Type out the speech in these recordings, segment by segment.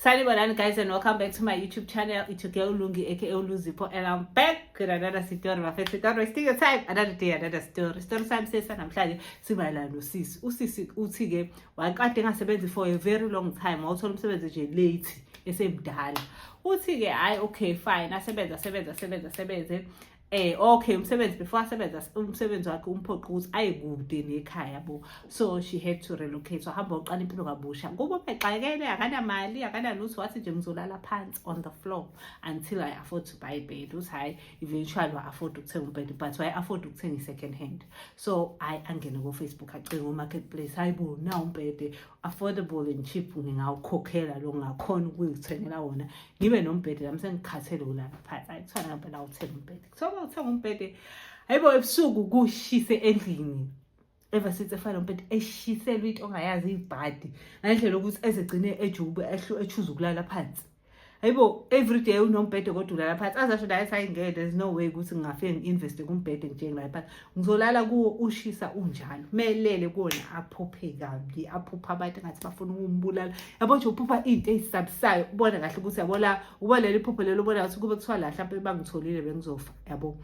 Sanibonani guys and welcome back to my YouTube channel. It's your girl Lungi aka Uluzipo and I'm back with another story. My favorite story. Wasting your time. Another day, another story. Story time says namhlanje simayelana nosisi. Usisi uthi ke waqade ngasebenzi for a very long time. Wawuthola umsebenzi nje late esemdala. Uthi ke hayi okay fine asebenza asebenza asebenza asebenze. Eh okay umsebenzi before asebenza umsebenzi wakhe umphoqa ukuthi aye kude nekhaya bo so she had to relocate so hamba uqala impilo kabusha kubo bexakele akanamali akanalutho wathi nje ngizolala phansi on the floor until i afford to buy a bed uthi hayi eventually wa afford ukuthenga umbed but why afford ukuthenga i-second hand so i angene kofacebook acinga umarketplace hayi bo na umbhede affordable and cheap ngingawukhokhela lo ngakhona ukuyithengela wona ngibe nombhede nami sengikhathele ulala phansi ayi kuthiwa ngampela awuthenga umbhede kuthiwa uma uthenga umbhede hayibo ebusuku kushise endlini ever since efana nompethu eshiselwa into ongayazi ibhadi ngendlela ukuthi ezegcine ejubu echuza ukulala phansi hayibo everyday unombhede kodwa ulala phansi azasho naye sayingeke there's no way ukuthi ngingafike ngi-investe kumbhede ngitshenge naye phansi ngizolala kuwo ushisa unjalo melele kuwona aphuphe kabi aphupha abantu ngathi bafuna ukumbulala yabo nje uphupha into ezisabisayo ubona kahle ukuthi yabo la uba leli phupho lelo ubona ukuthi kube kuthiwa la mhlawumbe bangitholile bengizofa yabo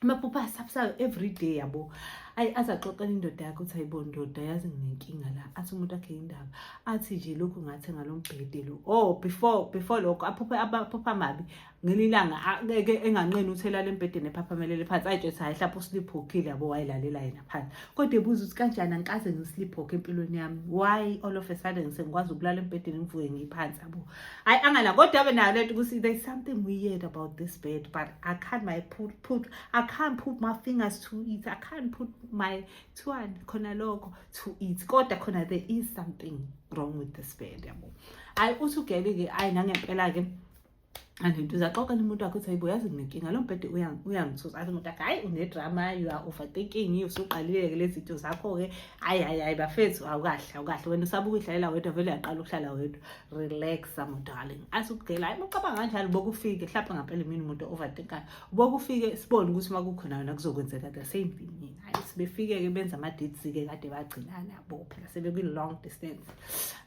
amaphupha asabisayo every day yabo ayi azaxoxela indoda yakhe ukuthi ayibo ndoda yazi nginenkinga la athi umuntu akhe indaba athi nje lokhu ngathi ngalombhede lo oh before before lokho aphuphe abaphupha amabi ngelinye ilanga ake enganqeni ukuthi elale embhedeni ephaphamelele phansi ayitsho ukuthi hayi hlapha usliphokhile yabo wayilalela yena phansi kodwa ebuza ukuthi kanjani angikaze ngisliphoke empilweni yami why all of a sudden sengikwazi ukulala embhedeni ngivuke ngiyiphansi yabo hayi angala kodwa abe nayo lento ukuthi there's something weird about this bed but i can't my put, put i can't put my fingers to it i can't put my twan khona lokho to it kodwa khona there is something wrong with this bed yabo hayi uthi ugele-ke ayi nangempela-ke anento uzaxoxela umuntu wakho ukuthi hayibo yazi nginenkinga lo mbhede uyangithusa athi umuntu akhe hayi unedrama you are overthinking usuqalile-ke lezi zinto zakho-ke hayi hayi hayi bafethu awukahle awukahle wena usaba ukuyidlalela wedwa vele uyaqala ukuhlala wedwa relax my darling athi ukugela hayi mucabanga kanjalo bokufike hlaphe ngampela imini umuntu overthinkayo bokufike sibone ukuthi uma kukhona yona kuzokwenzeka the same thing mina hayi sebefike-ke benza ama-dates-ke kade bagcinana bo phela sebekwi-long distance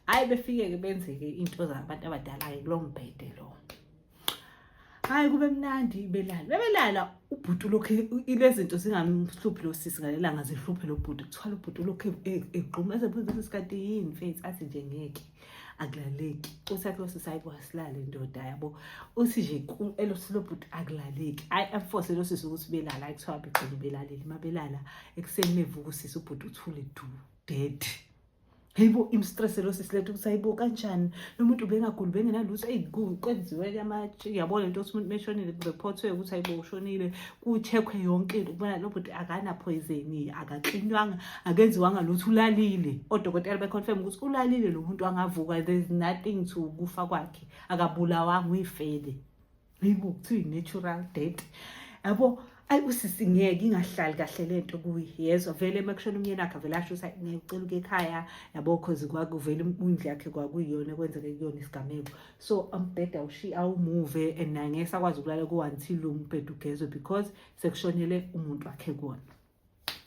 hayi befike-ke benze-ke into zabantu abadala-ke kulo mbhede lo hayi kube mnandi belala bebelala ubhuti ulokhu ilezinto zingamhluphi lo sisi ngalelanga zihluphe lo bhuti kuthwala ubhuti ulokhu egquma ezebuza ukuthi sikade yini faith athi nje ngeke akulaleki uthi athi losisi hayi kwasilale ndoda yabo uthi nje elosisi lo bhuti akulaleki hayi amfose lo sisi ukuthi belala hayi kuthiwa begcina belaleli uma belala ekuseni mevuka usisi ubhuti uthule du dead Hayibo imstress lo sisi lethu ukuthi hayibo kanjani lo muntu ubengaguli bengenalutho eyi kwenziwe kuyamatshe uyabo le nto ukuthi umuntu meshonile kurephothwe ukuthi hayibo ushonile kuchekhwe yonke into kubona lo bhuti akanaphoyizeni akaklinywanga akenziwanga lutho ulalile odokotela beconfirm ukuthi ulalile lo muntu angavuka there's nothing to kufa kwakhe akabulawanga uyifele yibo kuthiwa i-natural date yabo ayi usisi ngeke ingahlali kahle le nto kuyezwa vele uma kushona umyeni wakhe vele asho ukuthi ngeke ucela uke ekhaya yabo cause kwakuvele indlu yakhe kwakuyiyona kwenzeke kuyona isigameko so umbheda ushi awumuve and naye ngeke sakwazi ukulala ku-until umbheda ugezwe because sekushonele umuntu wakhe kuwona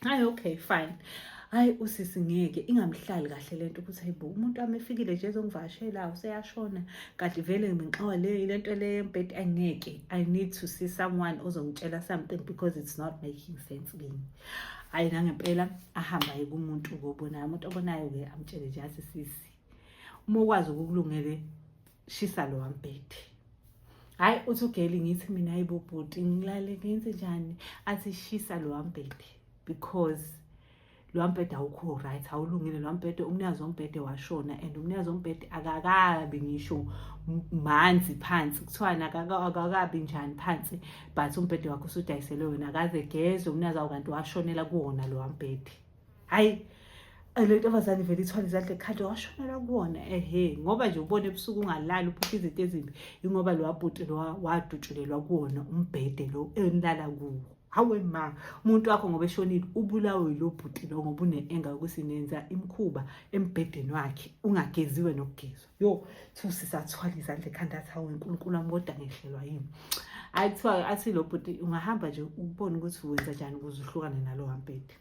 hayi okay fine hayi usisi ngeke ingamhlali kahle le nto ukuthi hayibo umuntu wami efikile nje ezongivakashela useyashona kanti vele nginxowa le le nto le yembhedi angeke i need to see someone ozongitshela something because it's not making sense kimi hayi nangempela ahamba ye kumuntu kobonayo umuntu obonayo-ke amtshele nje asisisi uma ukwazi ukukulungele shisa lo wambhede hayi uthi ugeli ngithi mina yibo bhuti ngilale ngenze njani athi shisa lo wambhede because lo wambhede awukho right awulungile lo wambhede umnikazi wombhede washona and umnikazi wombhede akakabi ngisho manzi phansi kuthiwani akakabi njani phansi but umbhede wakho usudayiselwe wena akaze gezwe umnikazi awu kanti washonela kuwona lo wambhede hayi le ntombazane vele ithwala izandla ekhanda washonela kuwona ehe ngoba nje ubona ebusuku ungalali uphupha izinto ezimbi ingoba lo wabhuti lo wadutshulelwa kuwona umbhede lo enilala kuwo hawe ma umuntu wakho ngoba eshonile ubulawe yilo bhuti lo ngoba une-enga yokuthi nenza imikhuba embhedeni wakhe ungageziwe nokugezwa yo kuthiwa sisathwala izandla ekhanda athi hawu nkulunkulu wami kodwa ngehlelwa yini hayi kuthiwa athi lo bhuti ungahamba nje ubone ukuthi wenza njani ukuze uhlukane nalo wampedi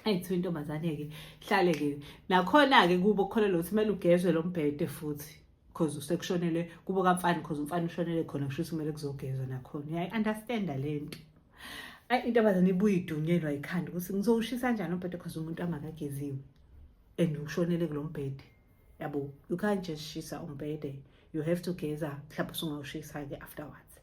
eyi kuthiwa intombazane-ke hlale-ke nakhona-ke kubo kukholelwa ukuthi kumele ugezwe lo mbhede futhi because usekushonele kubo kamfana because umfana ushonele khona kusho ukuthi kumele kuzogezwa nakhona uyayi-understanda le nto ayi intombazane ibuye idunyelwa yikhanda ukuthi ngizowushisa njani umbhede because umuntu angakageziwe and ushonele kulo mbhede yabo you can't just shisa umbhede you have to geza mhlawumbe usungawushisa-ke afterwards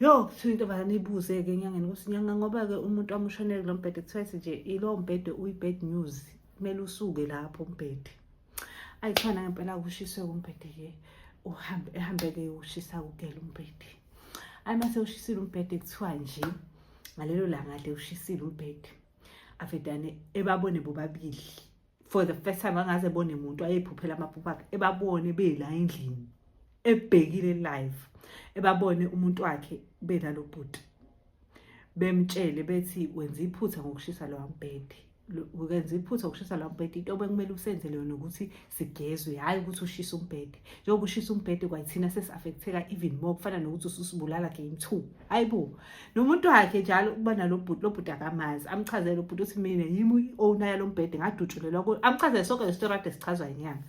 yo kuthiwa into bani ibuze-ke enyangeni ukuthi nyanga ngoba-ke umuntu wamushonele kulo mbhede kuthiwa ethi nje ilowo mbhede uyi-bad news kumele usuke lapho umbhede ayi khona ngempela kushiswe kumbhede-ke uhambe ehambeke ushisa kugela umbhede ayi mase ushisile umbhede kuthiwa nje ngalelo langa le ushisile umbhede avedane ebabone bobabili for the first time angaze ebone muntu ayephuphela amaphupho akhe ebabone bela endlini ebhekile live ebabone umuntu wakhe bela lo bhuti bemtshele bethi wenza iphutha ngokushisa lowa mbhede ukenza iphutha ukushisa lawo mbhede into bekumele usenzele yona ukuthi sigezwe hhayi ukuthi ushise umbhede njengoba ushisa umbhede kwayithina sesi-affektheka even more kufana nokuthi ususibulala game two ayibo nomuntu wakhe njalo ukuba nalobhuti lobhuti akamazi amchazele lobhuti uthi mina yimi i-owner yalo mbhede ngadutshulelwa kuyo amchazele sonke le story ade sichazwa yinyanga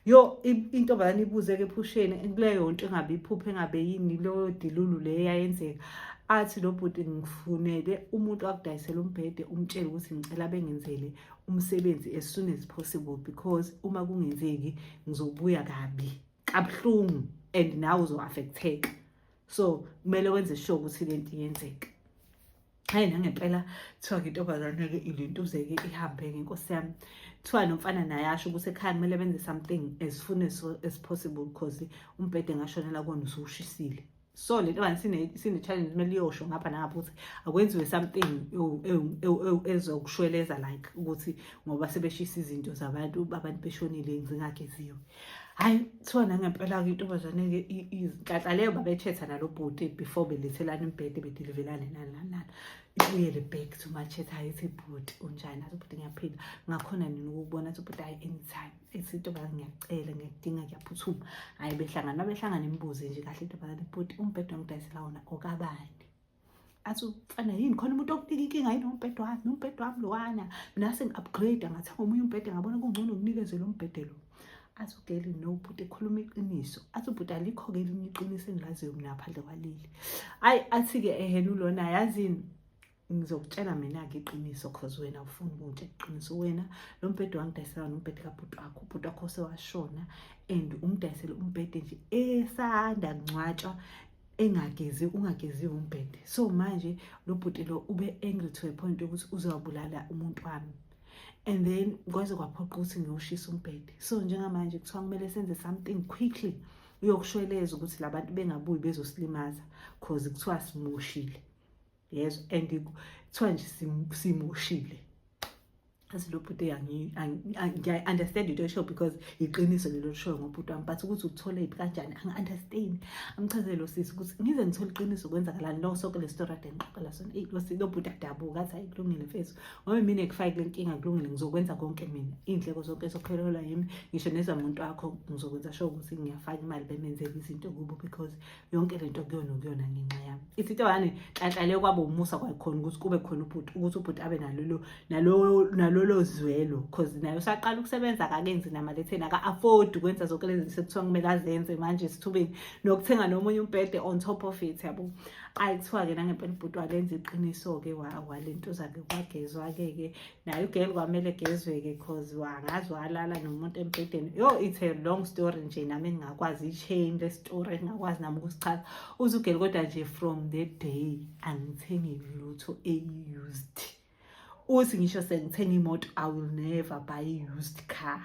yo intombazane ibuze-ke ephusheni kuleyo nto engabe iphuphe engabe yini leyo dilulu le eyayenzeka athi lo bhuti ngifunele umuntu akudayisela umbhede umtshele ukuthi ngicela bengenzele umsebenzi as soon as possible because uma kungenzeki ngizobuya kabi kabuhlungu and nawe uzo-affecteka so kumele wenze sure ukuthi le nto iyenzeka hayi nangempela kuthiwa-ke intombazane-ke ilintuzeke ihambe-ke nkosi yami kuthiwa nomfana naye asho ukuthi ekhaya kumele benze something as soon as, as possible because umbhede ngashonela kona usuwushisile so le ntombani sine-challenge kumele iyosho ngapha nangapha ukuthi akwenziwe something ezokushweleza like ukuthi ngoba sebeshisa izinto zabantu abantu beshonile zingageziwe hhayi kuthiwa nangempela-ke intombazane-ke izinhlanhla leyo babethetha nalo bhuti before belethelana imbhede bedilivelane nani nani nani ibuyele back to machetha ayithi bhuti unjani athi ubhuti ngiyaphila ngakhona nini ukubona athi ubhuti hhayi anytime ethi intombazane ngiyacela ngiyakudinga ngiyaphuthuma hhayi behlangana babehlangana imibuze nje kahle intombazane bhuti umbhede wangidayisela wona okabani athi ufana yini khona umuntu okunika inkinga yini umbhede wami umbhede wami lowana mina sengi-upgrade ngathenga omunye umbhede ngabona kungcono nginikezele umbhede lo athi ugeli no bhuti ekhuluma iqiniso athi ubhuti alikho-ke elinye iqiniso engilaziyo mina ngaphandle kwaleli ayi athi-ke ehena ulona yazini ngizokutshela mina-ke iqiniso cause wena ufuna ukungitshela iqiniso wena lo mbhede wangidayisela wona umbhede kabhuti wakho ubhuti wakho sewashona and umdayisele umbhede nje esanda kungcwatshwa engagezi ungageziwe umbhede so manje lo bhuti lo ube angry to a point yokuthi uzawubulala umuntu wami and then kwaze kwaphoqa ukuthi ngiyoshisa umbhede so njengamanje kuthiwa kumele senze something quickly uyokushweleza ukuthi labantu bengabuyi bezosilimaza cause kuthiwa simoshile yezo and kuthiwa nje simoshile athi lo bhuti ngiya-understand into eshow because yiqiniso lelo show ngobhuti wami but ukuthi uthole yiphi kanjani angi-understand amchazele lo sisi ukuthi ngize ngithole iqiniso kwenzakalani lo soke le story ade ngiqoqela sona eyi lo lo bhuti adabuka athi hayi kulungile mfethu ngoba mina ngifake le nkinga kulungile ngizokwenza konke mina iy'ndleko zonke zokuphelelwa yimi ngisho nezamuntu wakho ngizokwenza sho ukuthi ngiyafaka imali bemenzele izinto kubo because yonke le nto kuyona kuyona ngenxa yami ithi into yane nhlanhlale kwaba umusa kwayikhona ukuthi kube khona ubhuti ukuthi ubhuti abe nalolo nalolo nalolo zwelo because naye usaqala ukusebenza akakenzi namaletheni aka-afford ukwenza zonke lezi zinto sekuthiwa kumele azenze manje esithubeni nokuthenga nomunye umbhede on top of it yabo ayi kuthiwa-ke nangempela ubhuti walenza iqiniso-ke walento zakhe kwagezwa-ke-ke naye ugirl kwamele gezweke cause wangazi walala nomuntu embhedeni yo it's a long story nje nami ngingakwazi i-chain le story ngingakwazi nami ukusichaza uze ugirl kodwa nje from the day angithengi lutho eyi-used uthi ngisho sengithenga imoto i will never buy i-used car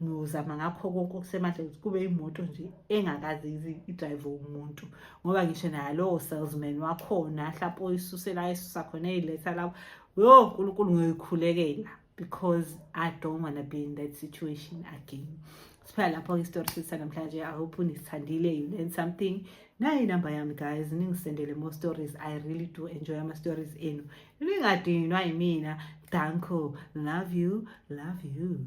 ngiyozama ngakho konke okusemandla ukuthi kube imoto nje engakaze idrayive umuntu ngoba ngisho naye lowo salesman wakhona mhlawumpe oyisusela ayisusa khona eyiletha lapho yo nkulunkulu ngiyoyikhulekela because i don't wanna be in that situation again siphela lapho-ke isitori sithi sanamhlanje i hope nisithandile you learn something nayo inamba yami guys ningisendele more stories i really do enjoy ama-stories enu Ningadinwa yimina. Danko. Love you. Love you.